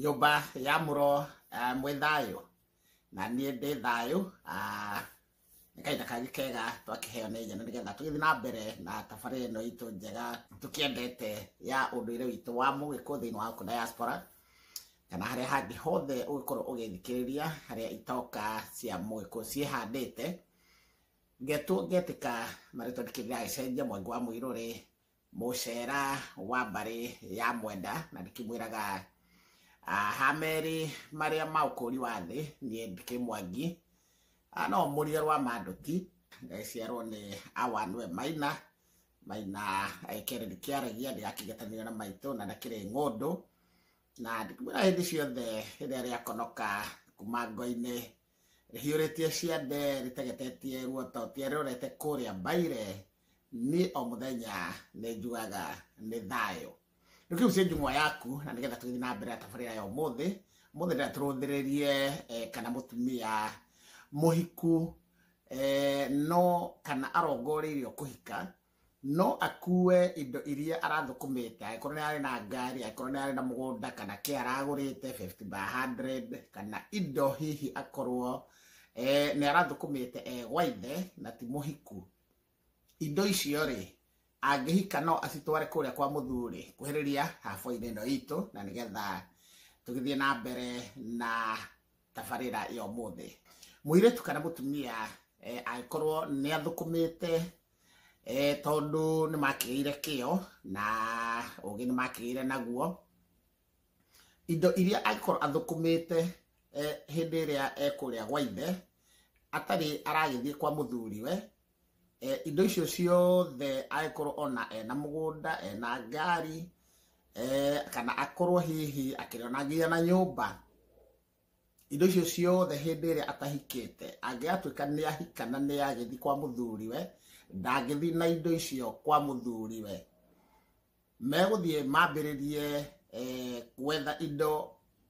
nyũmba ya mũro ah, mwĩ thayũ na niĩ ndĩ thayũ ah, nĩ kahinda kangĩ kega twakĩheo nĩ nyene nĩgetha tũgĩthiĩ na mbere na tabarĩ ĩno itũ njega tũkĩendete ya ũndũire witũ wa mũgĩkũ thĩinĩ wa gũkũ diaspora kana harĩa hangĩ hothe ũgĩkorwo ũgĩthikĩrĩria harĩa itoka cia mũgĩkũ ciĩhandĩte ngetwo ngetĩka marĩtwa ndikĩrĩra gĩcenjia mwangi wa mũirũrĩ mũcera wa mbarĩ ya mwenda na ndĩkĩmwĩraga ah, ha merĩ marĩa ma ũkũri wa thĩ niĩ ndĩkĩ mwangi Ah, no mũriga rwa manduti ngaciarwo nĩ awanwe maina maina ekere ndĩkĩaragia ndĩgakĩgetanio na maitũ na ndakĩrĩ ng'ũndũ na ndĩkĩmwĩra hĩndĩ ciothe rĩrĩa rĩakonoka kuma ngo-inĩ rĩhiũrĩtie ciande rĩtegetetie ruoto tia rĩrorete kũrĩa mbaire niĩ o mũthenya nĩ njugaga nĩ thayũ rĩu kĩu cia njung'wa yaku na nĩgetha tũgĩthiĩ na mbere na tabarĩra ya ũmũthĩ ũmũthĩ ndĩra tũrũthĩrĩrie eh, kana mũtumia mũhiku eh, no kana arongoreirio kũhika no akue indo iria arathũkũmĩte angĩkorwo nĩ ararĩ na ngari angĩkorwo nĩ ararĩ na mũgũnda kana kĩ aragũrĩte 50 by 100 kana indo hihi akorwo eh, nĩ arathũkũmĩte e gwa ithe na ti mũhiku indo icio rĩ angĩhika no acitware kũrĩa kwa mũthuri kuhĩrĩria haboinĩ ĩno itũ na nĩgetha tũgĩthiĩ na mbere na tabarĩra ya ũmũthĩ mũirĩtu kana mũtumia eh, angĩkorwo nĩ athũkũmĩte e, tondũ nĩ makĩgĩire kĩo na ũgĩ nĩ makĩgĩire naguo indo iria angĩkorwo athũkũmĩte eh, hĩndĩ ĩrĩa ekũrĩa gwa ithe atarĩ aragĩthiĩ kwa mũthuriwe eh, indo icio ciothe angĩkorwo ona ena mũgũnda ena ngari eh, kana akorwo hihi akĩrĩonagia na nyũmba indo icio ciothe hĩndĩ ĩrĩa atahikĩte angĩgatuĩka nĩ ahika na nĩ agĩthiĩ kwa mũthuriwe ndangĩthiĩ na indo icio kwa mũthuriwe megũthiĩ mambĩrĩrie eh, gwetha indo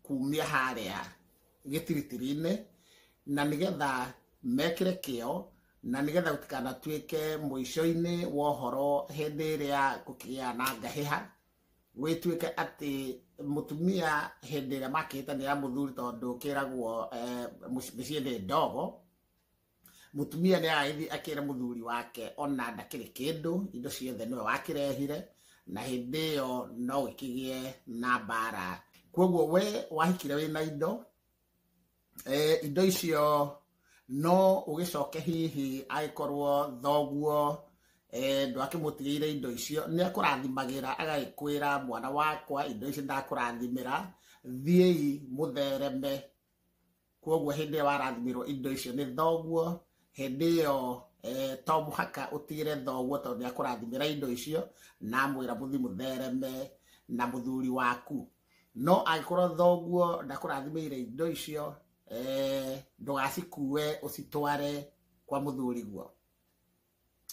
kumia harĩa gĩtiritiri-inĩ na nĩgetha mekĩre kĩo na nĩgetha gũtikanatuĩke mũico-inĩ wa ũhoro hĩndĩ ĩrĩa gũkĩgĩa na ngahĩha gwĩtuĩke atĩ mũtumia hĩndĩ ĩrĩa makĩhĩtanĩra mũthuri tondũ kĩragwo eh, mũci- mĩciĩ nĩ ndogo mũtumia nĩ aragĩthiĩ akĩra mũthuri wake ona ndakĩrĩ kĩndũ indo ciothe nĩwe wakĩrehire na hĩndĩ ĩyo no gĩkĩgĩe na mbara kwoguo we wahikire wĩ na indo eh, indo icio no ũgĩcoke hihi agĩkorwo thoguo eh, ndwakĩmũtigĩire indo icio nĩ akũrathimagĩra agagĩkwĩra mwana wakwa indo icio ndakũrathimĩra thiĩi mũthereme kwoguo hĩndĩ ĩyo warathimirwo indo icio nĩ thoguo hĩndĩ ĩyo eh, to mũhaka ũtigĩre thoguo tondũ nĩ akũrathimĩra indo icio na amwĩra mũthi mũthereme na mũthuri waku no angĩkorwo thoguo ndakũrathimĩire indo icio eh, ndũgacikue ũcitware kwa mũthuri guo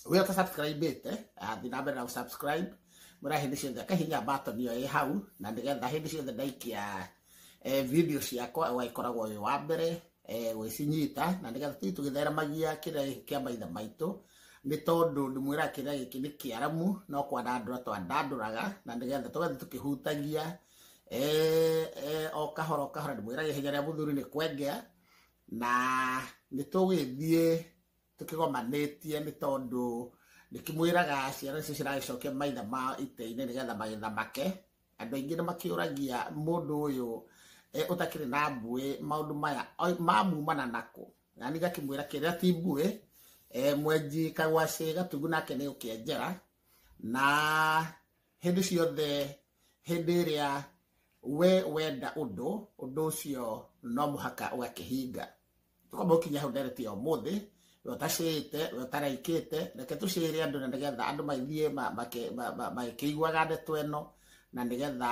we ũta subscribe ĩte athi na mbere na gũsubscribe mũra hĩndĩ ciothe akahinya button ĩyo ĩ hau na nĩgetha hĩndĩ ciothe ndaikia eh, video ciakwa ũgagĩkoragwo wĩ wa mbere eh, gwĩcinyita na nĩgetha tũthiĩ tũgĩtheremagia kĩrĩa gĩkĩ kĩa maithe maitũ nĩ tondũ ndĩmwĩra kĩrĩa gĩkĩ nĩ kĩaramu no kwandandũra twandandũraga na nĩgetha tũgathiĩ tũkĩhutagia eh, eh, o kahora o kahora ndĩmwĩra ihenya rĩa mũthuri nĩ kwengea na nĩ tũgĩthiĩ tũkĩgomanĩtie nĩ tondũ ndĩkĩmwĩraga ciana icio ciragĩcokia maitha ma itĩ-inĩ nĩgetha magetha make andũ aingĩ nĩ makĩũragia mũndũ ũyũ eh, ũtakĩrĩ na mbuĩ maũndũ maya oi- mamumana nakũ nani gakĩmwĩra kĩrĩa ti mbuĩ eh, mwenji kagwacĩ gatugu nake nĩ ũkĩenjera na hĩndĩ ciothe hĩndĩ ĩrĩa we wenda ũndũ ũndũ ũcio no mũhaka ũgakĩhinga tũkamba gũkinya hau ndereti ya ũmũthĩ we ũtacĩĩte we ũtaraikĩte reke tũcĩĩre andũ na nĩgetha andũ magĩthiĩ ma- make- ma- ma- magĩkĩiguaga ndeto ĩno na nĩgetha